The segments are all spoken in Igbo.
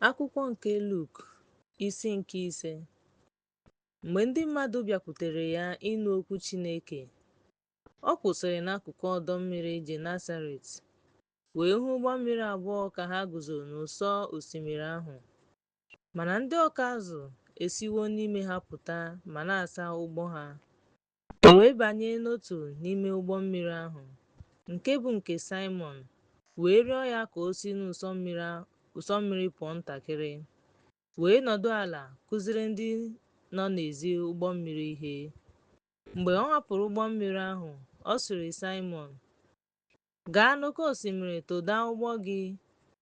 Akwụkwọ nke Luk isi nke ise Mgbe ndị mmadụ bịakwutere ya ịnụ okwu Chineke, ọ kwụsịrị n'akụkụ ọdọ mmiri Genesaret wee hụ ụgbọ mmiri abụọ ka ha guzo n'ụsọ osimiri ahụ. Mana ndị ọkụ azụ esiwo n'ime ha pụta ma na-asa ụgbụ ha. O wee banye n'otu n'ime ụgbọ mmiri ahụ, nke bụ nke Saịmọn, wee rịọ ya ka o si n'ụsọ mmiri pụọ ntakịrị, wee nọdụ ala kụziere ndị nọ n'ezi ụgbọ mmiri ihe. Mgbe ọ hapụrụ ụgbọ mmiri ahụ, ọ sịrị Saịmọn, Gaa n'oke osimiri tụda ụgbụ gị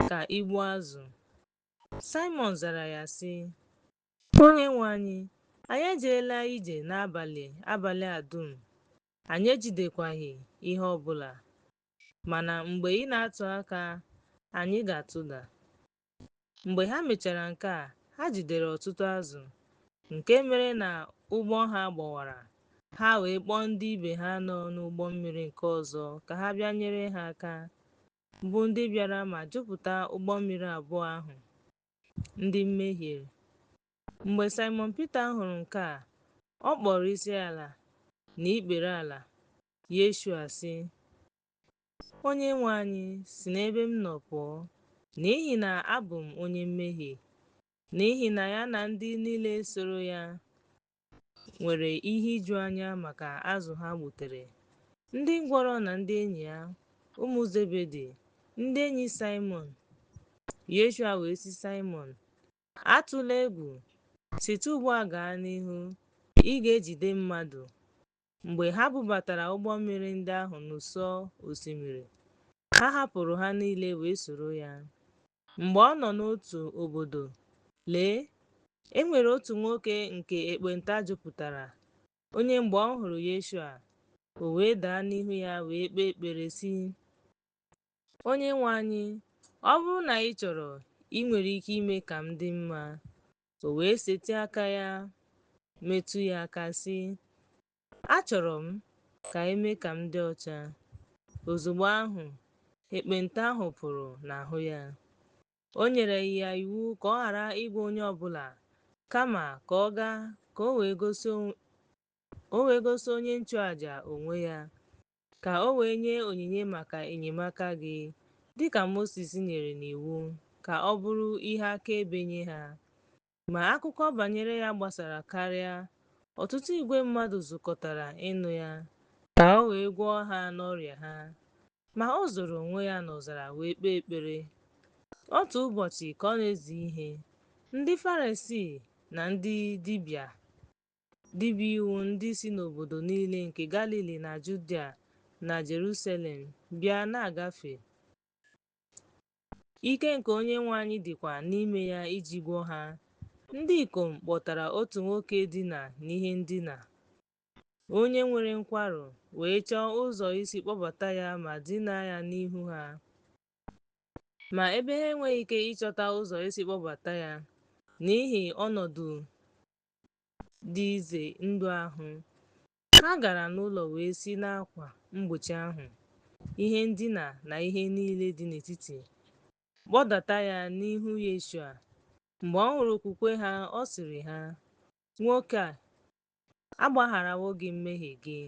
ka i gbuo azụ. Saịmọn zara ya sị, Onyenwe anyị, anyị ejeela ije n'abalị abalị a dum, anyị ejidekwaghị ihe ọ bụla. Mana mgbe ị na-atụ aka, anyị ga-atụda. Mgbe ha mechara nke a, ha jidere ọtụtụ azụ, nke mere na ụgbụ ha gbawara, ha wee kpọọ ndị ibe ha nọ n'ụgbọ mmiri nke ọzọ ka ha bịa nyere ha aka, bụ ndị bịara ma jupụta ụgbọ mmiri abụọ ahụ. ndị mmehiere. Mgbe Saịmọn Pita hụrụ nke a, ọ kpọrọ isi ala na ikpere ala Yeshua sị, Onye nwe anyị, si n'ebe m nọ pụọ, n'ihi na abụ m onye mmehie. N'ihi na ya na ndị niile soro ya nwere ihe ijuanya maka azụ ha gbutere. Ndị ngwọrọ na ndị enyi ya, ụmụ Zebedi, ndị enyi Saịmọn. Yeshua wee sị Saịmọn, Atụla egwu, site ugbu a gaa n'ihu, ị ga-ejide mmadụ. Mgbe ha bubatara ụgbọ mmiri ndị ahụ n'ụsọ osimiri, ha hapụrụ ha niile wee soro ya. Mgbe ọ nọ n'otu obodo, lee, e nwere otu nwoke nke ekpenta jupụtara, onye mgbe ọ hụrụ Yeshua, o wee daa n'ihu ya wee kpee ekpere sị, Onye nwe anyị, ọ bụrụ na ị chọrọ, ị nwere ike ime ka m dị mma. O wee setị aka ya, metụ ya aka sị, Achọrọ m ka e mee ka m dị ọcha. Ozugbo ahụ, ekpenta ahụ pụrụ n'ahụ ya. O nyere ya iwu ka ọ ghara ịgwa onye ọ bụla, kama ka ọ gaa ka o wee gosi onye nchụaja onwe ya, ka o wee nye onyinye maka enyemaka gị, dị ka Mosis nyere n'iwu, ka ọ bụrụ ihe akaebe nye ha. Ma akụkọ banyere ya gbasara karịa, ọtụtụ igwe mmadụ zukọtara ịnụ ya, ka o wee gwọọ ha n'ọrịa ha. Ma o zoro onwe ya n'ọzara wee kpee ekpere. Otu ụbọchị ka ọ na-ezi ihe, ndị Farisii na ndị dibịa dibịa iwu ndị si n'obodo niile nke Galili na Judia na Jerusalem bịa na-agafe. Ike nke Onyenwe anyị dịkwa n'ime ya iji gwọọ ha. Ndị ikom kpọtara otu nwoke dina n'ihe ndina, onye nwere nkwarụ, wee chọọ ụzọ isi kpọbata ya ma dinaa ya n'ihu ha. Ma ebe ha enweghị ike ịchọta ụzọ isi kpọbata ya n'ihi ọnọdụ dị ize ndụ ahụ, Ha gara n'ụlọ wee si n'akwa mgbochi ahụ, ihe ndina na ihe niile dị n'etiti, kpọdata ya n'ihu Yeshua. Mgbe ọ hụrụ okwukwe ha, ọ sịrị ha, Nwoke a, agbagharawo gị mmehie gị.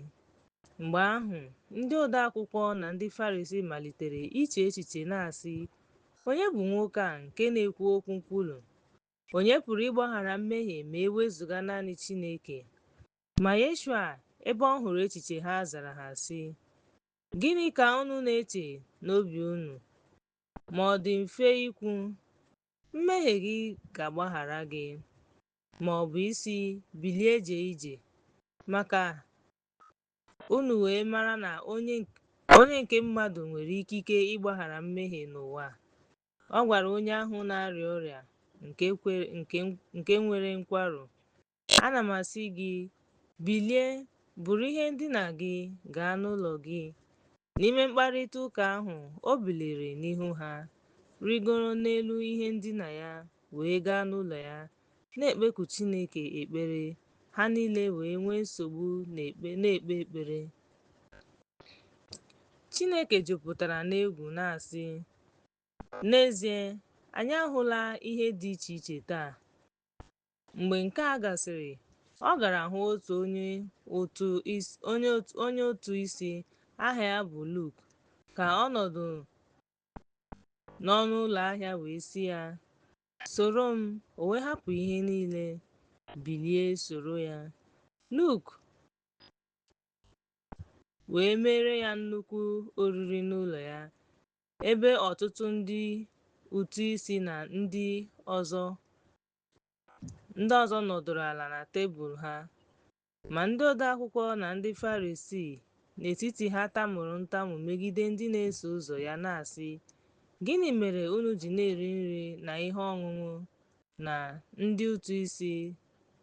Mgbe ahụ, ndị ode akwụkwọ na ndị Farisii malitere iche echiche na-asị, Onye bụ nwoke a nke na-ekwu okwu nkwulu? Onye pụrụ ịgbaghara mmehie ma e wezụga naanị Chineke? Ma Yeshua, ebe ọ hụrụ echiche ha, zara ha, sị, Gịnị ka unu na-eche n'obi unu? Ma ọ dị mfe ikwu, Mmehie gị ga-agbaghara gị, ma ọ bụ ịsị, Bilie jee ije, ma ka unu wee mara na onye nke mmadụ nwere ikike ịgbaghara mmehie n'ụwa. Ọ gwara onye ahụ na-arịa ọrịa nke nwere nkwarụ, Ana m asị gị, bilie, buru ihe ndina gị gaa n'ụlọ gị. N'ime mkparịta ụka ahụ, o biliri n'ihu ha, rigoro n'elu ihe ndina ya, wee gaa n'ụlọ ya, na-ekpeku Chineke ekpere. Ha niile wee nwee nsogbu na-ekpe ekpere. Chineke jupụtara n'egwu na-asị, N'ezie, anyị ahụla ihe dị iche iche taa. Mgbe nke a gasịrị, ọ gara hụ otu onye ụtụ isi aha ya bụ Luk, ka ọ nọdụ n'ọnụ ụlọ ahịa wee sị ya, Soro m, o wee hapụ ihe niile, bilie soro ya. Luk wee meere ya nnukwu oriri n'ụlọ ya, ebe ọtụtụ ndị ụtụ isi na ndị ọzọ Ndị ọzọ nọdụrụ ala na tebụl ha. Ma ndị odeakwụkwọ na ndị Farisii n'etiti ha tamuru ntamu megide ndị na-eso ụzọ ya na-asị, Gịnị mere unu ji na-eri nri na ihe ọṅụṅụ na ndị ụtụ isi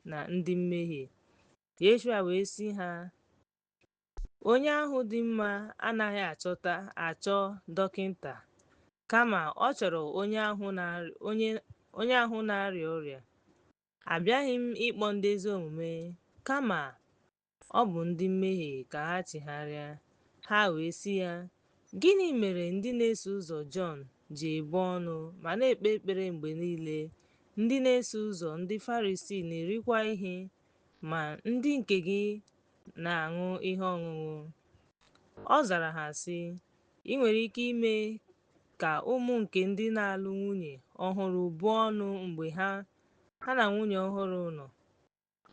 na ndị mmehie? Yeshua wee sị ha, Onye ahụ dị mma anaghị achọta achọ dọkịta, kama ọ chọrọ onye ahụ na-arịa ọrịa. Abịaghị m ịkpọ ndị ezi omume, kama ọ bụ ndị mmehie ka ha chigharịa. Ha wee sị ya, Gịnị mere ndị na-eso ụzọ Jọn ji ebu ọnụ ma na-ekpe ekpere mgbe niile, ndị na-eso ụzọ ndị Farisii na-erikwa ihe, ma ndị nke gị na-aṅụ ihe ọṅụṅụ? Ọ zara ha sị, I nwere ike ime ka ụmụ nke ndị na-alụ nwunye ọhụrụ buo ọnụ mgbe ha ha na nwunye ọhụrụ nọ,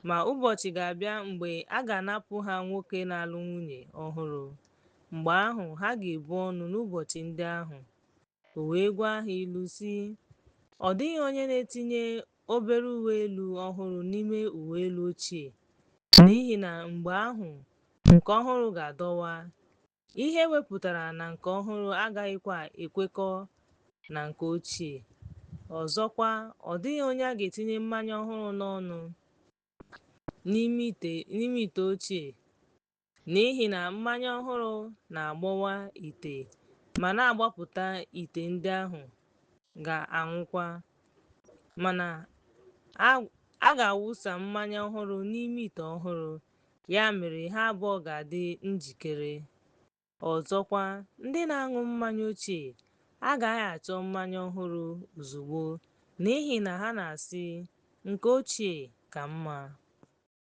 ma ụbọchị ga-abịa mgbe a ga-anapụ ha nwoke na-alụ nwunye ọhụrụ. Mgbe ahụ, ha ga-ebu ọnụ n'ụbọchị ndị ahụ. O wee gwa ha ilu sị, Ọ dịghị onye na-etinye obere uwe elu ọhụrụ n'ime uwe elu ochie, n'ihi na mgbe ahụ nke ọhụrụ ga-adọwa, ihe e wepụtara na nke ọhụrụ agaghịkwa ekwekọ na nke ochie. Ọzọkwa, ọ dịghị onye a ga-etinye mmanya ọhụrụ n'ọnụ n'ime ite ochie, N'ihi na mmanya ọhụrụ na-agbọwa ite ma na-agbapụta ite ndị ahụ ga-anwụkwa. Mana a a ga-awụsa mmanya ọhụrụ n'ime ite ọhụrụ, ya mere ha abụọ ga-adị njikere. Ọzọkwa, ndị na-aṅụ mmanya ochie agaghị achọ mmanya ọhụrụ ozugbo n'ihi na ha na-asị, Nke ochie ka mma.